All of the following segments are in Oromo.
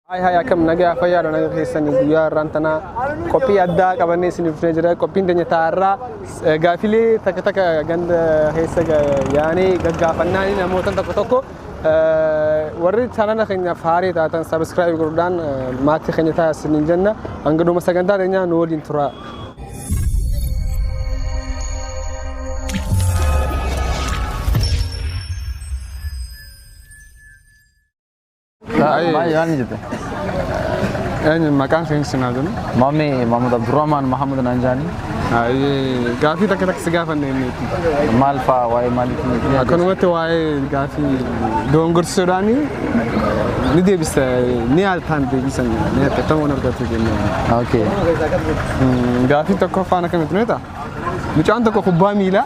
Haay haay akkam nagaa fayyaadha naga keessan guyyaa irraan tanaa qophii addaa qabannee isiniif dhufnee jira qophiin keenya taa'arraa gaafilee takka takka ganda keessa yaanee gaggaafannaa namoota tokko tokko warri chaanala keenyaaf haaree taatan sabiskiraayib godhuudhaan maatii keenya ta'a isiniin jenna hanga dhuma sagantaa keenyaa nu waliin turaa. Taa'ee. Maal maal jette? Eenyu maqaan keenya sinaa jennu. Maammee Mahmud Abdurrahman Mahmud naan jaani. Ayyee gaafii takka takka si gaafanne inni. Maal fa'aa waa'ee maaliitiin? Akkanumatti waa'ee gaafii doongorsisuudhaan ni deebisa ni haaltaan deebisan ni haaltamu hin argatu jennee. Okay. Gaafii tokkoffaan akkamitti nuyi ta'a? Mucaan tokko kubbaa miilaa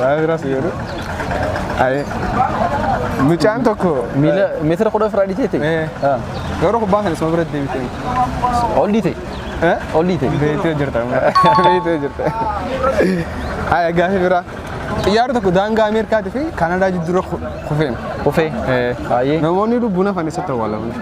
Vaayiras jedhu. Ayee. Mucaan tokko. Miila meetira kudha ofirraa dhiitee ta'e. Eh. Ah. Garuu kubbaan kan isuma bira deebitee. Ol dhiite. Eh? Ol dhiite. Beetee jirta. Beetee jirta. Ayee gaafii biraa. Xiyyaarri tokko daangaa Ameerikaatii fi Kaanadaa jidduu kufeen. Kufee. Eh. Baay'ee. Namoonni lubbuun hafan eessatti awwaalaman?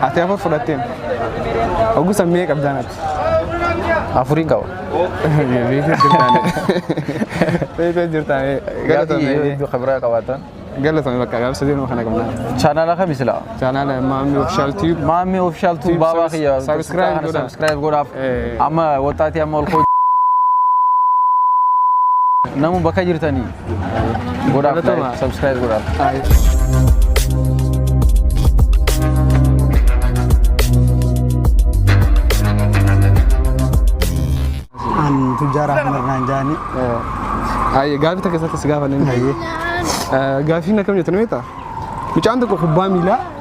Ati afur fudhatteen. Ogusa mee qabdaan ati. Afurii qaba. Beekee jirtaan. Beekee jirtaan. Galatoomi. Hedduu kabiraa qabaatan. Galatoomi bakka gaafsa deemu kana qabna. Chaanaala kami sila? Chaanaala Maammi Ofishaal Tiib. Maammi Ofishaal Tiib baabaa kiyya. Sabiskiraayib godhaa. Sabiskiraayib godhaaf. Amma waxxaatii amma ol koo. Namu bakka jirtanii. Godhaaf Galatoomaa. like, subscribe godhaaf. Ayi. An tujjaara Ahmad naan jaani. Ayi gaafii takka isatti si gaafanne. Ayi. Gaafiin akkam jettu ni beektaa? Mucaan tokko kubbaa miilaa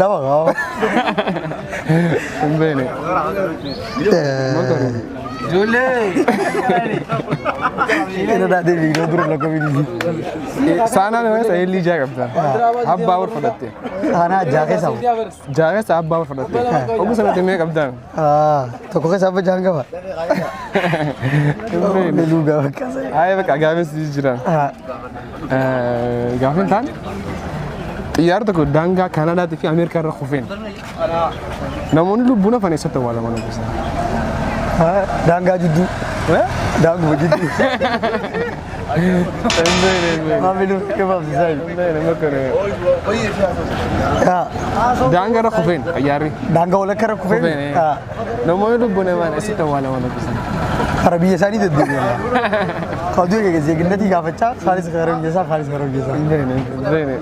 Lama qaba. Hin beekne. Ina daadhee fiigdoo dura lakka fiigdii. Saanaan yoo ta'e illee ijaa qabda. Abbaa wal fudhatte. Saanaa jaakee sabu. Jaaressa abbaa wal fudhatte. Oguu sanatti mee qabdaan. Ah, tokko keessa abba jaan qaba. Meluu gaafa kaasa. Ayi bakka gaafis jira. Ah, Gaafin taan xiyyaara tokko daangaa Kaanaadaatii fi Ameerikaa irra kufeen namoonni lubbuun hafan eessatti awwaalaman obbosaa. ah, daangaa jidduu. Daanguma jidduu. Daangaa irra kufeen xayyaarri. Daangaa walakka irra kufeen Kufeen. ah, Namoonni lubbuun namaan asitti awwaalaman dubbisan. kara biyya isaanii deddeebi'an. Oduu egaa zeeginnatii gaafachaa isaanis kara biyya isaa kaanis kara biyya isaa. Hin beekne.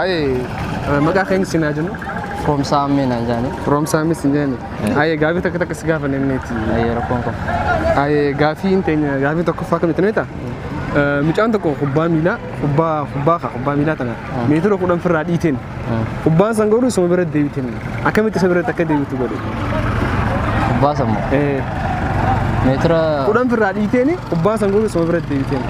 Ayee maqaa keenya siin haa jennu. Roomsaa ammee naan jaanii. Roomsaa ammee siin jennu. Ayee gaafii takka takka si gaafanne inniiti. Ayee rakkoon kun. Ayee gaafii hin teenye gaafii tokkoffaa kamitti nuyi ta'a? Mucaan tokko kubbaa miilaa kubbaa kubbaa kaa kubbaa miilaa tana meetira kudhan firraa dhiiteen kubbaan san garuu isuma bira deebiteen akkamitti isa biratti akka deebitu godhe. Kubbaa sammoo. Meetira Kudhan firraa dhiiteen kubbaan san garuu isuma bira deebiteen.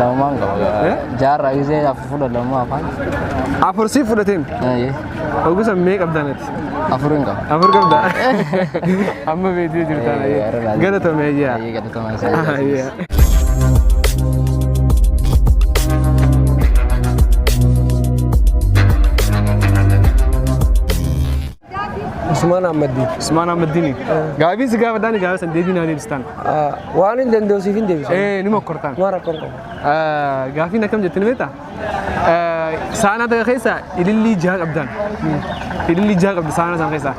Lamaan qaba. Jaarraa gisee afur fudha lamaa afaan. Afur siif fudhateen. Eeyyee. Ogusa mee qabdan ati? Afur hin qaba. Afur qabda. Amma beektii jirtaan. Eeyyee, har'a laal- Galatoomi ayyaa. Eeyyee galatoomaa isaa. Ayyaa. Usmaan Ahmaddiin. Usmaan Ahmaddiini. Gaafiin si gaafadhaan gaafa san deebii naa deebistaan. Waan hin danda'u siif hin deebisu. Ee ni mokkortaan. Waan rakkoo hin qabu. Gaafiin akkam jettee ni beektaa? Saanaa takka keessa ilillii jaha qabdaan. Ilillii jaha qabdi saanaa sana keessa.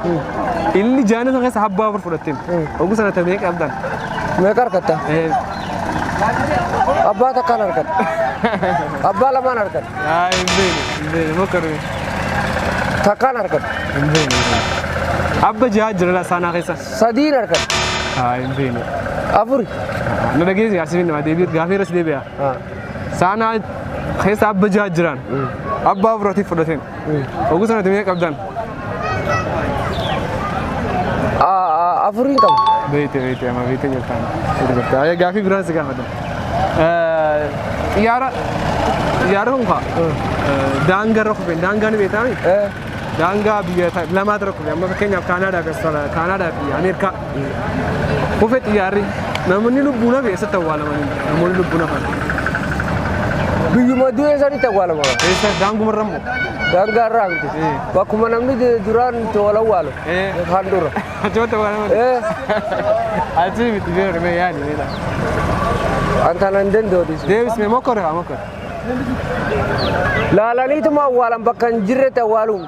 Ilillii jaha sana keessa habbaa afur fudhatteen. Oguu sana ta'e meeqa qabdaan? Meeqa harkatta? Abbaa takkaan harkatta. Abbaa lamaan harkatta. Yaa hin beekne hin beekne bakka dhume. Takkaan argadhe. Hin beekne. Abba jahaa jira laa saanaa keessa. Sadiin argadhe. Haa hin beekne. Afuri. Na dhageessi yaa sibiin namaa deebi'e gaafii irras deebi'a. Ah. Saanaa keessa abba jahaa jiraan. Abba afuratiif fudhateen. Oguu sanatti mee qabdan. Afuriin qaba. Beekte beekte amma beekte jirtaan. Beekte jirte. Ayya gaafii biraan si gaafadha. Xiyyaara xiyyaara kun kaa daangaa irra kufeen daangaa ni beektaa miti? Daangaa biyya ta- lamaatu irra kufee amma fakkeenyaaf Kaanaadaa fi Australia- Kaanaadaa fi Ameerikaa. Kufe xiyyaarri namoonni lubbuun hafe eessatti awwaalaman namoonni lubbuun hafan. Biyyuma du'ee sanitti awwaalama. Eessa daangumarra immoo. Daangaa irraa miti. Eh. Bakkuma namni de- duraan itti wal awwaalu. Eh. Kan dura. Achumatti awwaalaman. Eh. Achii miti beeku mee yaadi beela. An kana hin danda'u dhiisu. Deebis mee mokkore haa mokkore. Laalaniituma awwaalan bakka hin jirretti awwaaluun.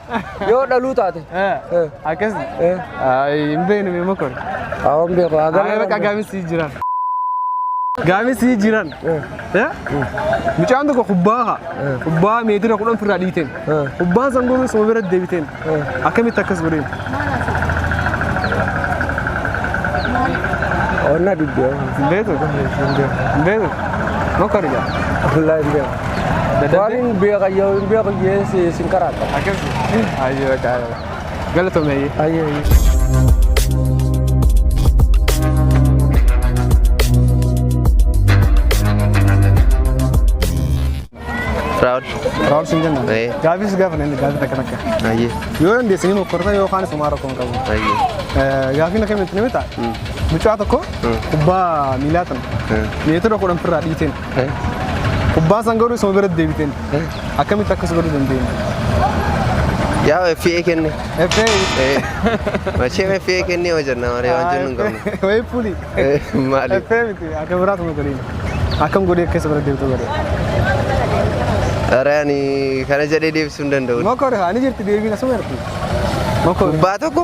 Yoo dhaluu taate. Akkas. Hin beeknu mee mokor. Awwan beeku. Ayi bakka gaamis sii jiran. Gaamis sii jiran. Mucaan tokko kubbaa haa. Kubbaa meetira kudhan firraa dhiiteen. Kubbaan san goonuu suma bira deebiteen. Akkamitti akkas godheen? Onna diddeema. Hin beektu? Hin beektu. Mokor gaa. Wallaahi hin beeku. Waaniin beeka yoo hin beeku jee si sin karaata. Akkas. Ayyee bakka. Galatomeeyyee. Ayyee. Raawul. Raawul siin jenna. Ee. Gaafis gaafa namni gaafii takka takka. Ayyee. Yoo dandeessanii mokkorta yookaan isumaa rakkoo hin qabu. Ayyee. Eh, Gaafiin akkamitti ni mita? Mucaa tokko kubbaa miilaa tan meetira kudhan firraa dhiiteen. Kubbaan san garuu isuma biratti deebiteen. Akkamitti akkas godhuu dandeenya? Yaa FA kenne. FA. Machee FA kenne hojjenna malee waan jennu hin qabnu. Wayii puli. Maali? FA miti akka biraatu nu godhiin. Akkam godhee akka isa bira deebitu godhe. Dharaan kana jedhee deebisuu hin danda'u. Mokor haa ni jirti deebiin asuma jirti. Mokor. Kubbaa tokko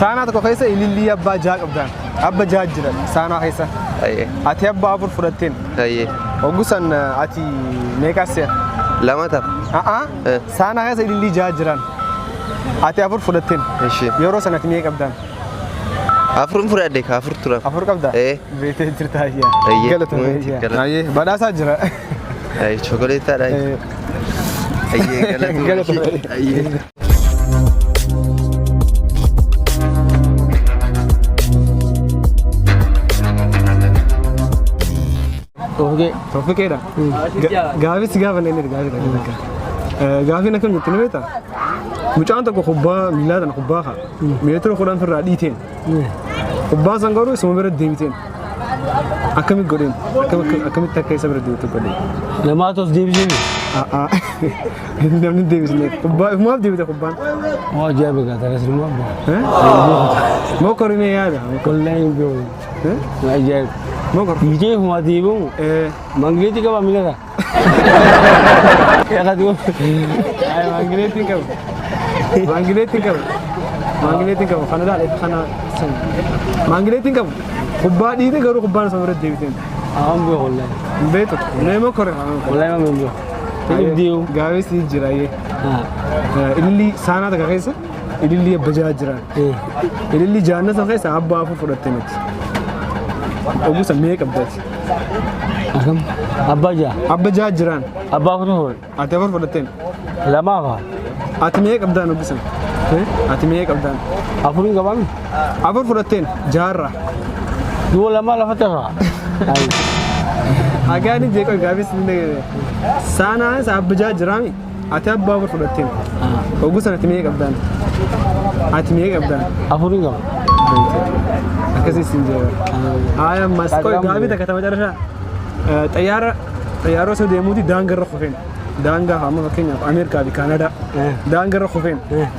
Saanaa tokko keessa ilillii abbaa jaha qabdaan. Abba jaha jira saanaa keessa. Ayyee. Ati abbaa afur fudhatteen. Ayyee. Oggusan ati meeqaa se'a? Lama ta'a. A'a. Eh. Saanaa keessa ilillii jaha jiraan. Ati afur fudhatteen. Ishii. Yeroo sana ati meeqa qabdaan? Afurin fudhadhe ka afur turan. Afur qabdaa? Eh. Beetee jirta ayyaa. Ayyee. Galatoomi Ayyee. ayyaa. Galatoomi. Ayyee. Badhaasaa jira. Ayyee. Chookoleetaadha. Eh, Ayyee. Galatoomi. Galatoomi. Ayyee. Oogee. Toofiqeedha. Gaafis gaafa inni inni gaafii dhagaa takka. Gaafiin akkam jettu ni beektaa? Mucaan tokko kubbaa miilaa tana kubbaa kaa. Meetira kudhan firraa dhiiteen. Kubbaan san garuu isuma bira deebiteen. Akkamitti godheen? Akkam- Akkamitti akka isa bira deebitu godheen? Namaatu as deebisee mi? A'aa. Namni hin deebisne. Kubbaa ifumaaf deebita kubbaan. Moo ajaa'iba gaa takas nama abba. Eh? Mokorinee yaada. Wallahi hin beeku. Eh? Ajaa'iba. Mokor. Dhiitee ifumaa deebi'u. Eh. Mangileetti qabaa miidhagaa. Maangineetiin qabu. Maangineetiin qabu. Maangineetiin qabu. Kana ilaale kana san. Maangineetiin qabu. Kubbaa dhiite garuu kubbaan isa biratti deebiteen. Aan bu'e wallahi. Hin beektu. Neema kore. Wallahi waan hin bu'e. Hin deemu. Gaafee si jira yee. Ilillii saanaa takka keessa ilillii abba jaha jira. Ilillii jaannata keessa abba afur fudhatte miti. Ogusa mee qabdati. Akkam? Abbaa jaa. Abba jaha jiraan. Abbaa kutu hool. Ati afur fudhatteen. Lamaa faa. Ati mee qabdaan hubbisan. Ati mee qabdaan. Afurii qabaan. Afur fudhatteen jaarraa. Yoo lamaa lafa tasaa. Ayi. Agaani jeeqoo gaafis ni dhaga'e. Saanaa isa abba jaha jiraami. Ati abbaa afur fudhatteen. Oguu sana ati mee qabdaan. Ati mee qabdaan. Afurii qaba. Akkasii siin jeera. Haaya ammas qoy gaabii takka tama carraa. Xayyaara xayyaara osoo deemuuti daangarra kufeen. Daangaa amma fakkeenyaaf Ameerikaa fi Kaanadaa. Daangarra kufeen.